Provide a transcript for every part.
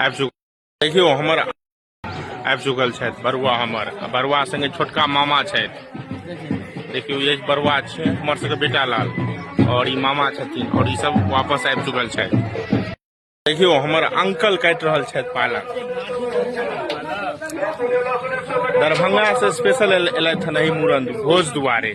आबि चुकल देखियौ हमर आबि चुकल छथि बरुआ हमर आ बरुआ संगे छोटका मामा छथि देखियौ ये बरुआ छै हमर सबके बेटा लाल और ई मामा छथिन और ई सब वापस आबि चुकल छथि देखियौ हमर अंकल काटि रहल छथि पालक दरभंगा से स्पेशल एलथि हन एहि मूड़न भोज दुआरे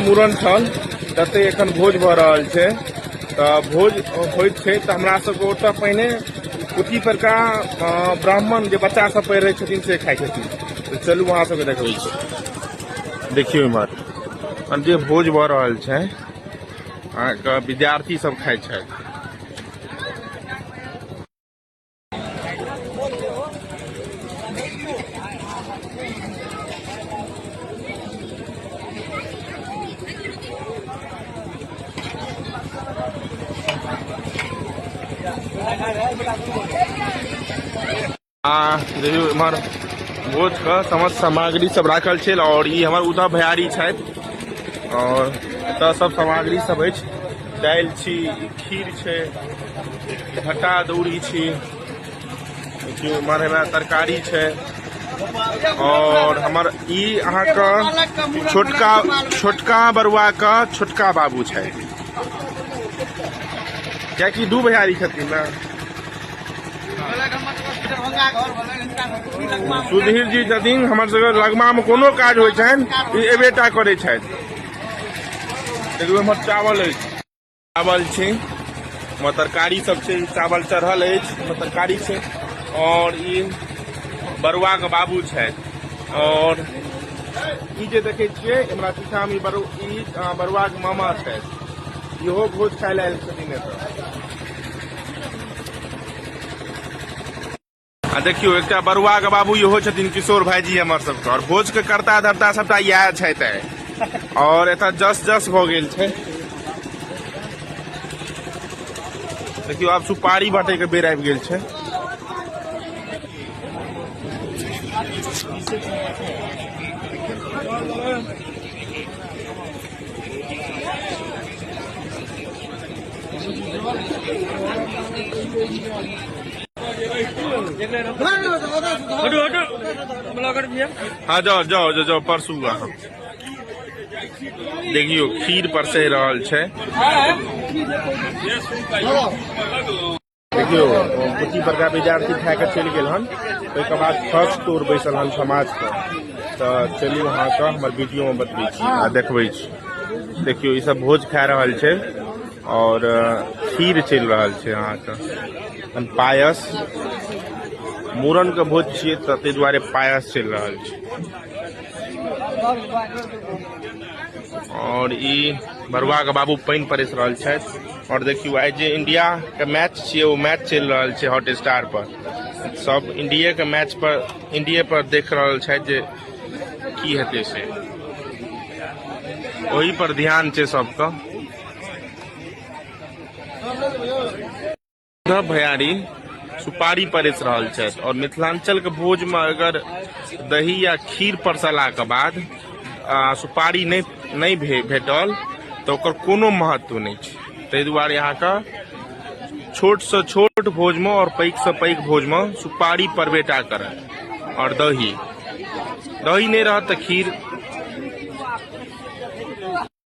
मूड़न छल जते एखन भोज भऽ रहल छै तऽ भोज होइत छै तऽ हमरा सबके ओतऽ पहिने कुटी परका ब्राह्मण जे बच्चा सब पढ़ि रहै छथिन से खाइ छथिन तऽ चलू अहाँ सबके देखबै छी देखियौ इम्हर जे भोज भऽ रहल छै अहाँके विद्यार्थी सब खाइ छथि आ देखियौ एम्हर भोजके समस्त सामग्री सब राखल छै आओर ई हमर उद्धव भैयारी छथि आओर एतऽ सब सामग्री सब अछि दालि छी खीर छै घटा दौड़ी छी देखियौ एम्हर हमरा तरकारी छै और हमर ई अहाँके छोटका छोटका बरुआके छोटका बाबू छै कियाकि दू भैयारी छथिन ने सुधीर जी छथिन हमर सबके लगमामे कोनो काज होइ छनि ई एबेटा करै छथि देखियौ हमर चावल अछि चावल छै ओहिमे तरकारी सब छै चावल चढ़ल अछि ओहिमे तरकारी छै आओर ई बरुआके बाबू छथि आओर ई जे देखै छियै हमरा पीछामे बरु ई अ, बरुआके मामा छथि इहो भोज खाय लए आयल छथिन एतऽ आ देखियो एक बरुआ के बाबू इहो छथिन किशोर भाईजी हमर सबके और भोज के करता धरता सबटा इएह छथि और एत जस जस भ गेल छै देखियो आब सुपारी बाटे के बेर आबि गेल छै हाँ जाओ जाओ जाओ जाओ परसू अहाँ देखियो खीर परसै रहल छै देखियौ कोची बड़का विद्यार्थी खा कऽ चलि गेल हन ओहिके बाद फर्स्ट टूर बैसल हन समाजके तऽ चलू अहाँके हमर वीडियोमे बतबै छी आ देखबै छी देखियौ ईसभ भोज खा रहल छै आओर खीर चलि रहल छै अहाँके पायस मूड़नके भोज छियै तऽ ताहि दुआरे पायस चलि रहल छै और ई बरुआ के बाबू पानि परेस रहल छथि और देखियो आइ जे इंडिया के मैच छियै ओ मैच चलि रहल छै हॉट स्टार पर सब इंडिया के मैच पर इंडिया पर देख रहल छथि जे की हेतै से ओहि पर ध्यान छै सबके न भयारी सुपारी परस रहल छथि आओर मिथिलाञ्चलके भोजमे अगर दही या खीर परसलाके बाद आ, सुपारी नहि नहि भे भेटल तऽ ओकर कोनो महत्व नहि छै ताहि दुआरे अहाँके छोटसँ छोट भोजमे आओर पैघसँ पैघ भोजमे सुपारी परबेटा करत आओर दही दही नहि रहत तऽ खीर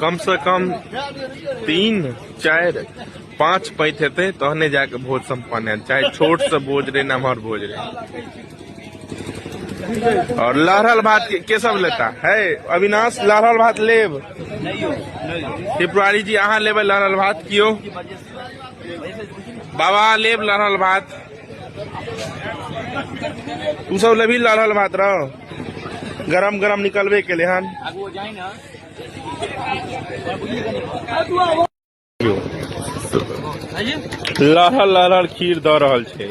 कम से कम तीन चारि पाँच पैत हेतै तहने जाके भोज सम्पन्न है चाहे छोट से भोज रहे नमहर भोज रहे और लहरल भात के, के सब लेता है अविनाश लहरल भात लेब त्रिपुरारी जी अहाँ लेबै लहरल भात कियो बाबा लेब लहरल भात तू सब लेबही लहरल भात रहो गरम गरम निकलबे केले हन लहर लहर खीर दऽ रहल छै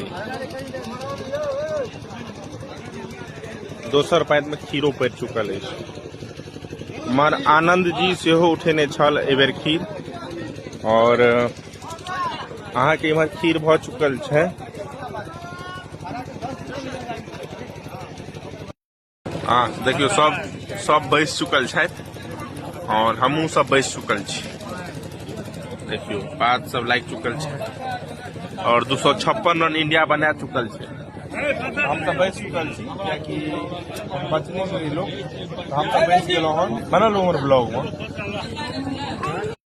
दोसर पाइत में खीरो पड़ चुकल है मर आनंद जी से उठेने छल एबेर खीर और अहाँके इम्हर खीर भऽ चुकल छै आ देखियौ सब सब बैस चुकल छथि और हमहूँ सब बैस चुकल छी देखियौ बात सब लागि चुकल छै और दू सौ छप्पन रन इंडिया बना चुकल छै हम तऽ बैस चुकल छी कियाकि बचने से लोग हम तऽ बैस गेलहुँ हन बनल उमर ब्लॉगमे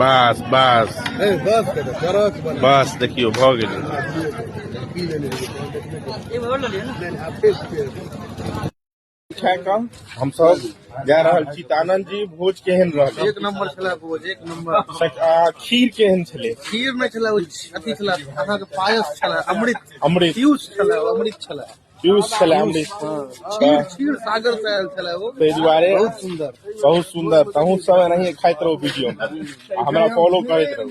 बस बस बस देखियो भऽ गेलै खा कऽ हमसभ जा रहल छी तानन जी भोज केहन रहल एक नंबर छला भोज एक नंबर आ खीर केहन छलै खीर नहि छला ओ अथी छला अहाँके पायस छला अमृत अमृत पीयूष छला अमृत छला पीयूष छलै अमरीश क्षीर सागर से आयल छलै ओ ताहि दुआरे बहुत सुंदर बहुत सुंदर तहूँ सब एनाहिए खाइत रहू वीडियो हमरा फॉलो करैत रहू